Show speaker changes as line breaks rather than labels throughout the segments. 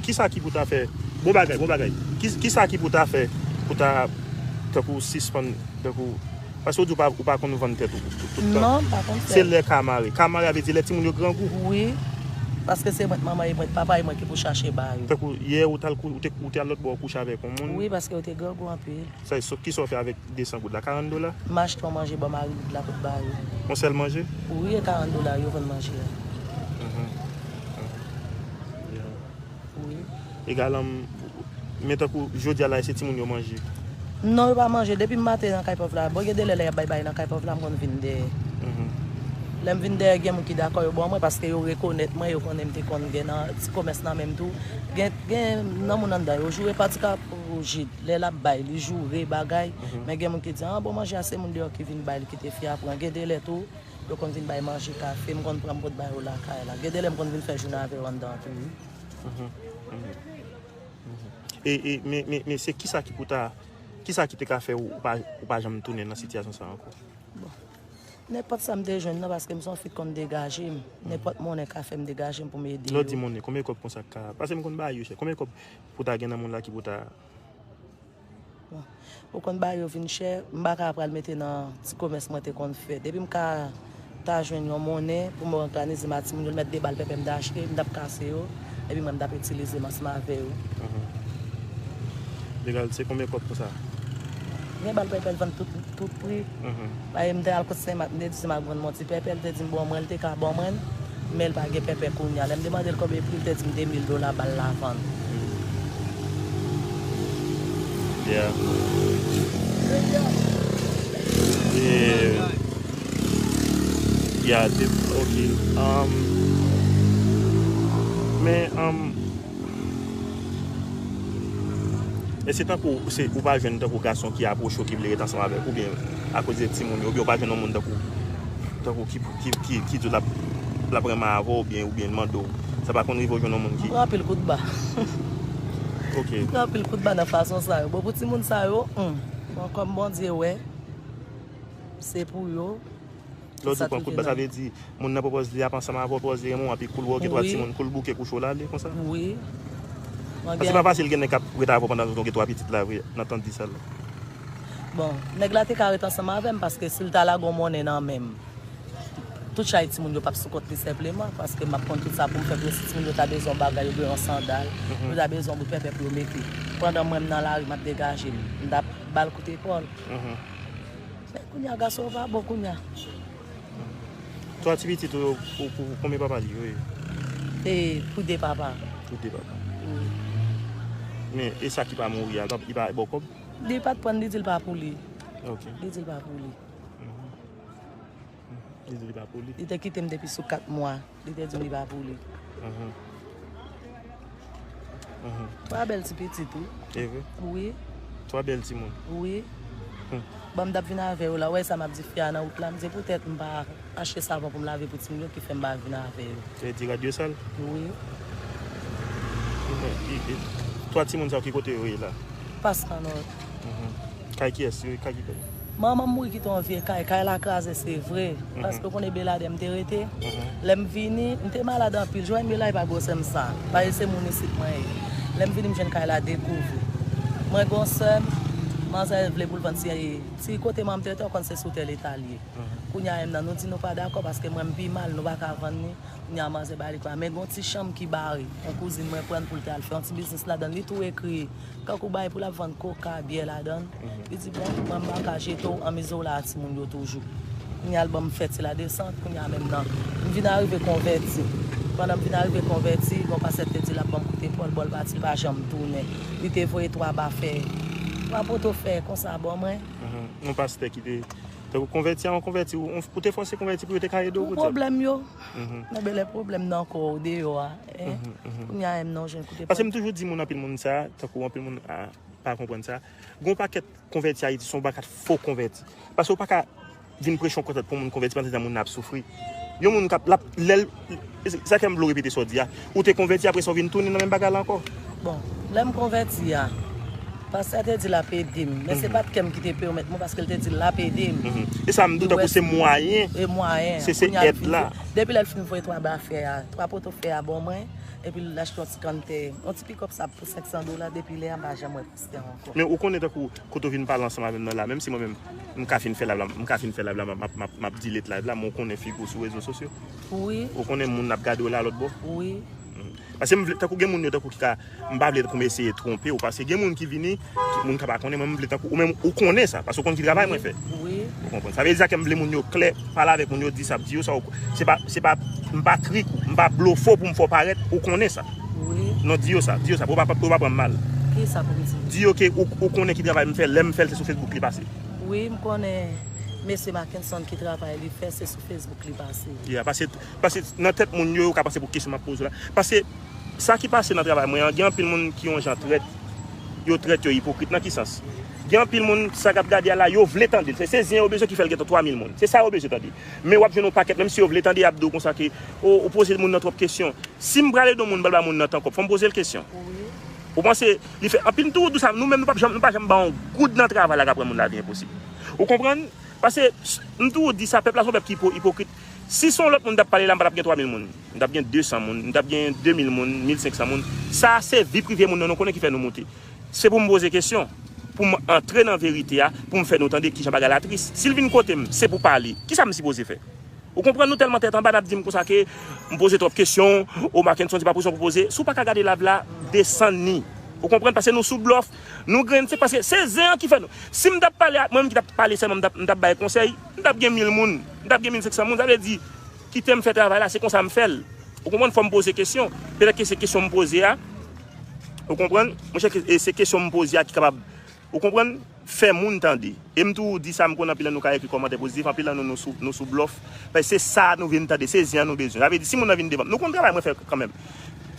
Kisa ki pou ta fè bon bagay bon bagay kisa ki pou ta fè pou ta tankou sispann tankou paske ou di ou pa konn vann tèt ou tout tan non pa konn fèl
se lè ka mare ka
mare
a
vle di lè timoun yo grangou wi
paske se mwen t manman yo mwen t papa yo mwen ki pou chache ba yo tankou yè ou t al kouche
ou te al lòtbò kouche avèk yon moun wi paske yo te grangou
anpil. Sa e so kisa w fè avèk
200 goud la? 40 dola? M achte yon manje ba
mari goud la pou l ba yo. Yon sèl manje?
Wi e 40 dola
yo vann manje a. E galan m
Men tankou jodi a la e se timoun yo manje? Non yo pa
manje depi m maten nan kay pòv la. Bon gen de lè lè y ap bay bagay nan kay pòv la m konn vin dèyè. Lè m vin dèyè gen moun ki dakò yo ba w mwen paske yo rekonèt mwen yo konnen m te konn gen nan ti komès nan men m tou. Gen nan moun anndan yo joure patika pou jid. Lè lap bay li joure bagay men gen moun ki di an bon manje a se moun deyò ki vin bay li kite fi a pran gen delè tou yo konn vin bay manje kafe m konn pran m pot bay yo lakay la gen delè m konn vin fè jounen avè yo anndan an tou wi.
Men se kisa ki pou ta kisa ki te ka fè ou pa janm tounen nan sitiyasyon sa ankò? Bon
nenpòt sa m te jwenn nan paske m son fi k konn degaje m nenpòt monnen ka fèm degaje m pou m ede yo. Lè w di monnen konbyen kòb konsa
ka paske m konn bay yo chè konbyen kòb Pou ta gen nan moun la ki pou ta.
Ou konn bagay yo vin chè, m pa ka pral mete nan ti komès mwen te konn fè. Depi m ka ta jwenn yon monnen pou m òganize m ak timoun yo, m mèt de bal pèpè m ta achte, m t ap kase yo, epi mwen m t ap itilize m ansanm avè yo.
Legal, se konbyen kòb pou sa? Gen
bal pèpè l vann tout pri. Marim te al kot Senmak, m te di Senmak vann m yon ti pèpè, li te di m bon mwen, li te ka ban mwen l, men li pa gen pèpè kounye a. Lè m demande l konbyen pri, li te di m 2000 dola bal la vann.
Èske se tankou ou pa jwenn tankou gason ki apwoche w ki vle ret ansanm avèk ou oubyen akoz de timoun yo oubyen ou pa jwenn yon moun tankou tankou ki di w l ap renmen avè w oubyen l mande w sa pa konn rive w jwenn yon moun ki. M pran anpil kout ba Ok M pran anpil kout ba
nan fason sa yo bon pou timoun sa yo humm bon kòm Bondye wè se pou yo. Lè w di w pran
kout ba sa vle di moun nan pwopòz li ap ansanm avè w, pwopòz li renmen w api kou l wè w gen twa timoun kou l bouke kouche w la ale konsa? Paske se pa fasil gen nèg k ap ret avè w pandan w gen twa pitit la vre nan tan disal la. Bon,
nèg la te ka ret ansanm avè m paske si l ta lage w monnen nan men m, tout chay timoun yo p ap sou kont li senpleman paske m ap konn tout sa pou m fè pou yo si timoun yo ta bezwen yon bagay oubyen yon sandal, yo ta bezwen yon bout pèpè pou yo mete. Pandan mwen m nan lari m ap degaje m, m t ap ba l kout epòl. Men kounya gason yo pa bon kounya.
Twa ti pitit ou yo pou konbyen papa li yo ye? Se
pou 2 papa. Pou 2 papa.
Men e sa ki pa mouri a li pa baw kob? Li pat prann li di
li pa pou li. Ok. Li di li pa
pou li. Li di li pa pou li. Li te kitem depi sou
4 mwa. Li te di w li pa pou li. Twa bèl ti pitit wi. E vre? Wi. Twa bèl ti
moun? Wi.
Bon m tap vin avè yo la, wè sa m ap di fi a nan wout la, m di poutèt m pa achte savon pou m lave pou ti moun yo ki fè m pa vin avè yo. Sa vle di rad yo sal?
Wi. Twa ti moun sa yo ki kote yo ye la? Pas anòt.
Kay
kiyes se kay ki pèdi. Manmanm
mouri kite yon vye kay, kay la kraze se vre, paske ou konn e Belade m te rete, lèm vini m te malad anpil, jwen Belay pa gwosèm sa, paske se moun isit mwen ye, lèm vini m jwenn kay la dekouvri, mwen gen yon sèm, manzè vle poul vann ti, ti kote manmanm te rete ou konn se sou tè leta li ye, kounya em nan nou di nou pa dakò paske mwen m pi mal nou pa ka vann ni, kounya manzè bali kay la, men gen yon ti chanm ki bare yon kouzin mwen prann poul te al fè yon ti biznis ladann li tou ekri. Kankou bay pou lap vann koka, byè ladann. Li di bon, mwen pa ka jete w anmize w la a timoun yo toujou. Kounya l ban m fè ti ladesant, kounya menm nan. M vin arive konvèti. Pandan m vin arive konvèti, gon pastè ki te di l ap ban m koute fò l, bò l pati l pa janm tounen. Li te voye 3 ba fè, 3 poto fè konsa ban mwen. Yon pastè ki
te fè w konvèti a, yon konvèti, ou te fòse konvèti pou yo te ka ede w pou dyab. Pou pwoblèm yo.
Men bele pwoblèm nan kò ou deyò a. Pase m toujou di moun anpil
moun sa, tankou anpil moun pa konprann sa, goun pa ket konvèti Ayiti son pa ket fo konvèti. Pase ou pa ka vin preche yon konvèti pou moun konvèti pandan tan moun nan ap soufri. Yon moun kap lap lèl, sa kèm vlo repete sa ou di a, ou te konvèti apre sa ou vin tounen nan menm bagay la anko. Bon, lèm
konvèti a, pastè te di lap ede m, men se pat kèm ki te pèmèt mwen paske l te di lap ede m. E sa m di w tankou
se mwayen,
se se
èd
la. Depi lèl fin voye 3 bafè a. Pwa poto fè a
bon
mwen epi l achte yon ti kann tè. Yon ti pikòp sa pou 500 dola depi lè a m pa janm wè pastè a ankò. Men ou konnen tankou
kote w vin pale ansanm avè m nan la menm si mwen menm m ka fin fè live la m ka fin fè live la m ap delete live la men w konnen figi w sou rezo sosyo ou konnen
moun ap gade
w la lòtbò
paske m vle
tankou gen moun yo tankou ki ka M pa vle tankoum eseye twonpe w paske gen moun ki vini moun ka pa konnen mwen m vle tankou ou menm ou konnen sa paske ou konn ki travay mwen fè ou konprann sa vle
di sa kèm
vle moun yo klè pale avèk moun yo di sa ap di yo sa ou se pa se pa m pa trik ou m pa blofè w pou m fè w parèt ou konnen sa non di yo
sa di yo sa
pou yo pa pou yo pa pran m mal
di yo ke ou konnen ki
travay m fè lè m fè l se sou fesbouk li pase wi m konnen
mesye makenson ki travay li fè se sou fesbouk li pase paske Paske
nan tèt moun yo, yo ka panse pou kesyon m ap poze w la. Paske sa ki pase nan travay mwen an, gen anpil moun ki yon jan trèt. Yo trèt, yo ipokrit. Nan ki sans? Gen anpil moun, sa y ap gade a la, yo vle tande l. Se zen yo bezwen ki fè l gen 3 mil moun. Se sa yo bezwen tande. Men w ap jwenn yon pakèt, menm si yo vle tande, y ap di w konsa ke, O, ou poze moun nan twòp kesyon. Si m prale don moun bal ba moun nan tan kòb, fò m poze l kesyon. Ou
panse
li fè anpil tou, tou sa, nou menm nou pap janm, nou pa janm ba yon goud nan travay la k ap rann moun lavi enposib. Ou konprann? Pase, m toujou di sa, pèp la se yon pèp ki ipokrit. Si se yon lòt moun m t ap pale la, m pa t ap gen 3 mil moun. M t ap gen 200 moun, m t ap gen 2 mil moun, 1500 moun. Sa a se vi prive moun nan nou konnen ki fè nou moute. Se pou m poze kesyon, pou m antre nan verite a, pou m fè nou tande ki jan bagay la tris. Si l vin kote m, se pou pale. Ki sa m sipoze fè? Ou konprann nou tèlman tèt anba n ap di m konsa ke m poze twòp kesyon, o Makenson se pa pwezon pou poze. Si w pa ka gade layv la, desann ni. Ou konprann? Pase nou sou blòf, nou grenn se paske se zen an ki fè nou. Si m t ap pale ak mwen menm ki t ap pale sèlman m t ap bay konsèy, m t ap gen mil moun. M tap gen 1500 moun sa vle di kitem fè travay la se konsa m fèl ou konprann fòm poze kesyon petèt ke se kesyon m poze a ou konprann monchè se kesyon m poze a ki kapab ou konprann fè moun tande e m tou di sa m konnen anpil nan nou ka ekri kòmantè pozitif anpil nan nou nou sou blòf paske se sa nou vin tande se zen an nou bezwen sa vle di si moun nan vin devanm nou konn travay mwen fè kanmenm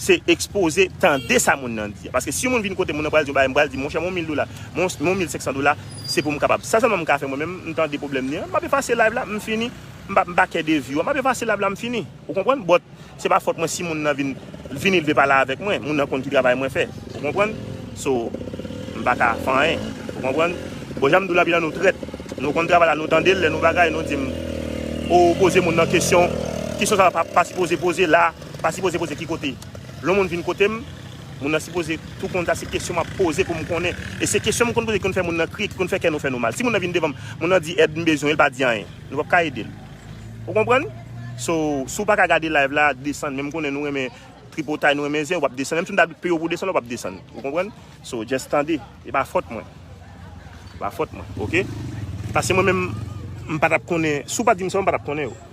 Se ekspoze, tande sa moun nan di. Paske si yon moun vin kote m, moun nan pral di yon bagay, m pral di, monchè, m yon mil dola, m yon mil senksan dola, se pou m kapab. Sa sèlman m ka fè mwen menm, m tande pwoblèm li an, m ap efase live la, m fini. M pa m pa kè de view an, m ap efase live la, m fini. Ou konprann? But, se pa fòt mwen si moun nan vin, l vini l vle pale avèk mwen. Moun nan konn ki travay mwen fè. Ou konprann? So, m pa ka fè anyen. Ou konprann? Bon, jan m di w lapidan nou trèt. Nou konn travay la, nou tande l, lè nou bagay, nou di m, o poze moun nan kesyon, kesyon sa w pa sipoze poze la. Pa sipoze poze ki kote. Lè yon moun vin kote m, moun nan sipoze tou konn sa se kesyon m ap poze pou m konnen. E se kesyon m konn poze ki konn fè moun nan kriye, ki konn fè kè nou fè nou mal. Si moun nan vin devan m, moun nan di èd m bezwen, e l pa di anyen, nou pap ka ede l. Ou konprann? So, si w pa ka gade live la, desann. Men m konnen nou renmen tripotay, nou renmen zen, ou pap desann. Menm si m ta peye w pou w desann, ou pap desann. Ou konprann? So, just tande. E pa fòt mwen. E pa fòt mwen. Ok? Pase mwen menm, m pa t ap konnen. Si w pa di m sa yo, m pa t ap konnen yo.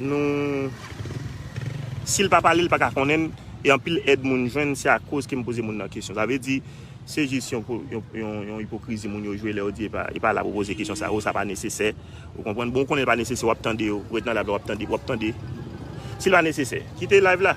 Nou Sil pa pale li paka konnenn e anpil èd moun jwenn se akoz kem poze moun nan kesyon sa vle di se jis yon ipokrizi moun yo jwe lè yo di e pa la pou poze kesyon sa yo sa pa nesesè ou konprann bon ou konnen li pa nesesè wap tande yo ou ret nan live la wap tande sil pa nesesè kite live la.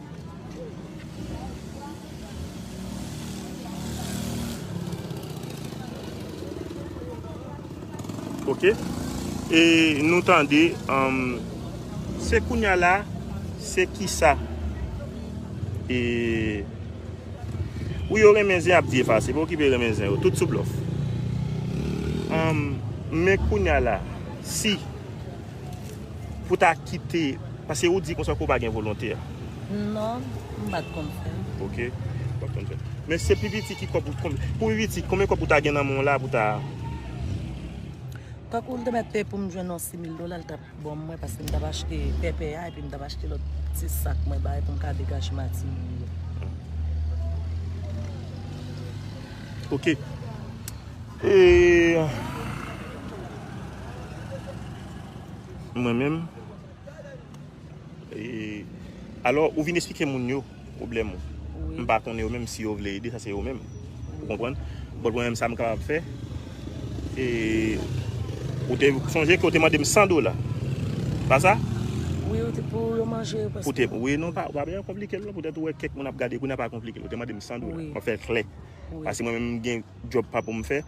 Ok E nou tande Se kounya la Se kisa E Ou yo renmen zen ap di efa se pou ki pe renmen zen ou tout sou blof Amm Men kounya la Si Pou ta kite, paske ou di konsa ke ou pa gen volonte a. Non, m
pa t konn fè. Ok, ou pa t
konn fè. Men se pi piti ki kòb, pou pi piti, konbyen kòb ou ta gen nan men w la pou w ta.
Tankou l te mèt peye pou m jwenn yon simil dola, l t ap ban mwen paske m t ap achte pèpè a epi m t ap achte lòt ti sak mwen bay pou m ka degaje matin mwen yo.
Ok. Mwen menm Alò ou vin esplike moun yo pwoblèm ou M pa konnen
yo menm si yo
vle ede sa se yo menm Ou konprann But mwen menm sa m kapab fè Ou te sonje ke ou te mande m 100 dola Se pa sa Wi ou te
pou yo manje Ou te Ou pa bezwen
konplike l non Poutèt ou wè kèk moun ap gade kounya pa konplike l Ou te mande m 100 dola Mwen fè l klè Paske mwen menm m
gen
Djòb pa pou m fè.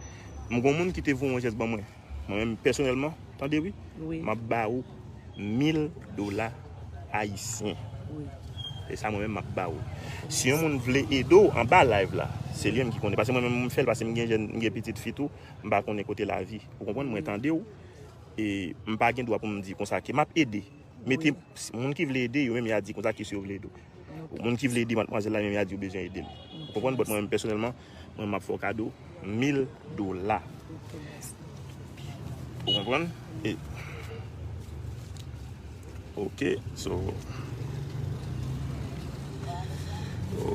M gon moun ki te voye yon jès ban mwen. Mwen menm pèsonèlman, tande wi, m ap ba ou 1000 dola ayisyen.
Se sa mwen menm
m ap ba ou. Si yon moun vle ede w anba live la, se li menm ki konnen. Pase mwen menm m fè l, pase m gen jèn, m gen pitit fi tou, m pa konnen kote lavi. Ou konprann? Mwen tande w e m pa gen dwa pou m di konsa ke m ap ede. Mete moun ki vle ede yo menm ya di konsa kiyes yo vle ede w. Moun ki vle ede matmwazèl la menm ya di yo bezwen ede l. Ou konprann? Bòt mwen menm pèsonèlman, mwen map fè w kado 1000 dola. Ou konprann? E Ok, so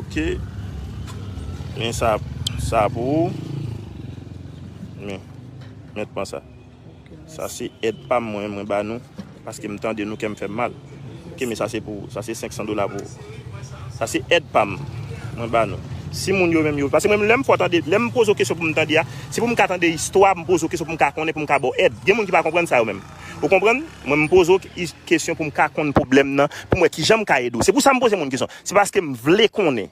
Ok Men sa sa pou ou Men, men pran sa. Sa se èd pam mwen mwen ba nou paske m tande nou kèm fèm mal ok men sa se pou ou sa se 500 dola pou ou sa se èd pam mwen ba nou si moun yo menm yo paske mwen menm lèm fò tande lèm poze w kesyon pou m tande a se pou m ka tande istwa m poze w kesyon pou m ka konnen pou m ka ba w èd gen moun ki pa konprann sa yo menm ou konprann mwen m poze w kesyon pou m ka konn pwoblèm nan pou m wè kijan m ka ede w se pou sa m poze moun kesyon se paske m vle konnen.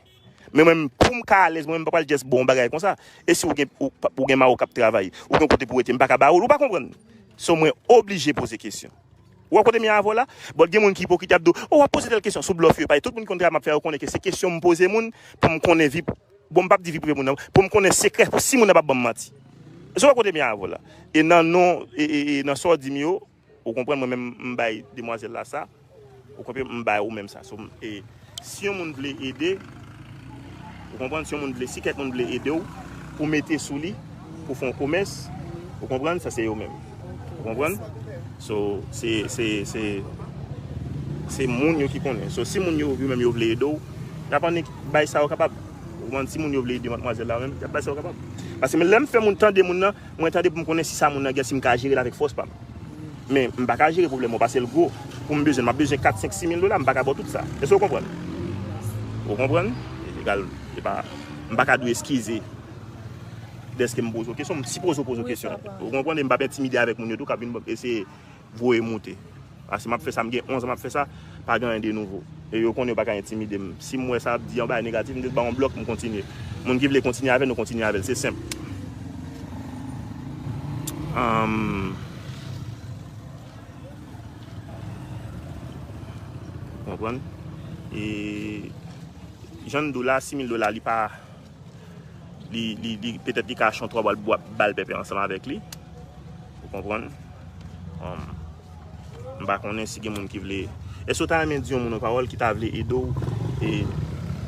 Men mwen poum ka alèz mwen mpa pral just baw yon bagay konsa. E si ou gen ou gen mari kap travay, ou gen kote pou rete mpa ka ba ou l ou pa konprann. So mwen oblije poze kesyon. Ou wè kote m ye avè w la? But gen moun ki ipokrit yap di w, oh wap poze tèl kesyon sou blòf yo epa tout moun ki konn travay map fè yo konnen ke se kesyon m poze moun pou m konnen vi bon m pap di vi prive moun nan pou m konnen sekrè pou si moun nan pap banm manti. So wè kote m ye avè w la? E nan non e e e nan sa w di m yo. Ou konprann mwen menm m bay demwazel la sa ou konpem m bay ou menm sa so e si yon moun vle ede ou konprann si yon moun vle si kèk moun vle edew pou mete sou li pou fon komès ou konprann sa se yo menm ou konprann so se se se se moun yo ki konnen so si moun yo yo menm yo vle edew yap annik bay sa yo kapab ou konprann si moun yo vle ede matmwazèl la menm yap bay sa yo kapab paske men lèm fè moun tande moun nan. Mwen tande pou m konnen si sa moun nan gen si m ka jere l avèk fòs pa m. Men, m pa ka jere pwoblèm ou pase l gwo. Pou m bezwen l, m ap bezwen kat, senk, simil dola, m pa ka ba w tout sa. Èske ou konprann? Ou konprann? Egal, se pa, m pa ka di w eskize dèske m poze w kesyon. M sipoze ou poze w kesyon. Ou konprann? E m p ap entimide avèk moun yo tou k ap vin eseye voye moute. Paske m ap fè sa, m gen 11 an m ap fè sa, pa gen anyen de nouvo. E yo konnen yo pa ka entimide m. Si m wè sa ap di yon bagay negatif, m jis ba yon blòk, m kontinye. Moun ki vle kontinye avè l, nou kontinye avè l. Se senp. Ou konprann? E jan m di w la, 6000 dola li pa. Li petèt li ka achte yon 3 bal bwa ba l pèpè ansanm avèk li. Ou konprann? M pa konnen si gen moun ki vle. Èske ou ta renmen di yon moun yon pawòl ki ta vle ede w? E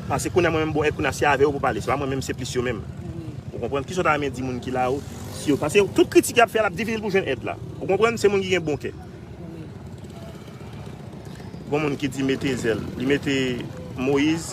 Pase kounye a mwen menm bon e kounye a se avè w pou pale. Se pa mwen menm se plis yo menm. Ou konprann? Kisa w ta renmen di moun ki la yo? Si yo pase tout kritik y ap fè l ap difisil pou jwenn èd la. Ou konprann? Se moun ki gen bon kè. Gon moun ki di mete zèl. Li mete Moyiz.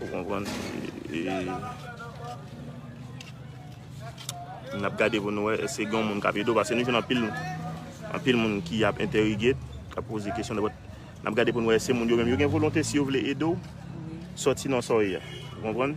Ou konprann? E n ap gade pou nou wè èske gen yon moun k ap ede w paske nou jwenn anpil anpil moun ki ap entèrige, k ap poze kesyon nan bòt. N ap gade pou nou wè èske moun yo menm yo gen volonte si yo vle ede w sòti nan sa w ye a. Ou konprann?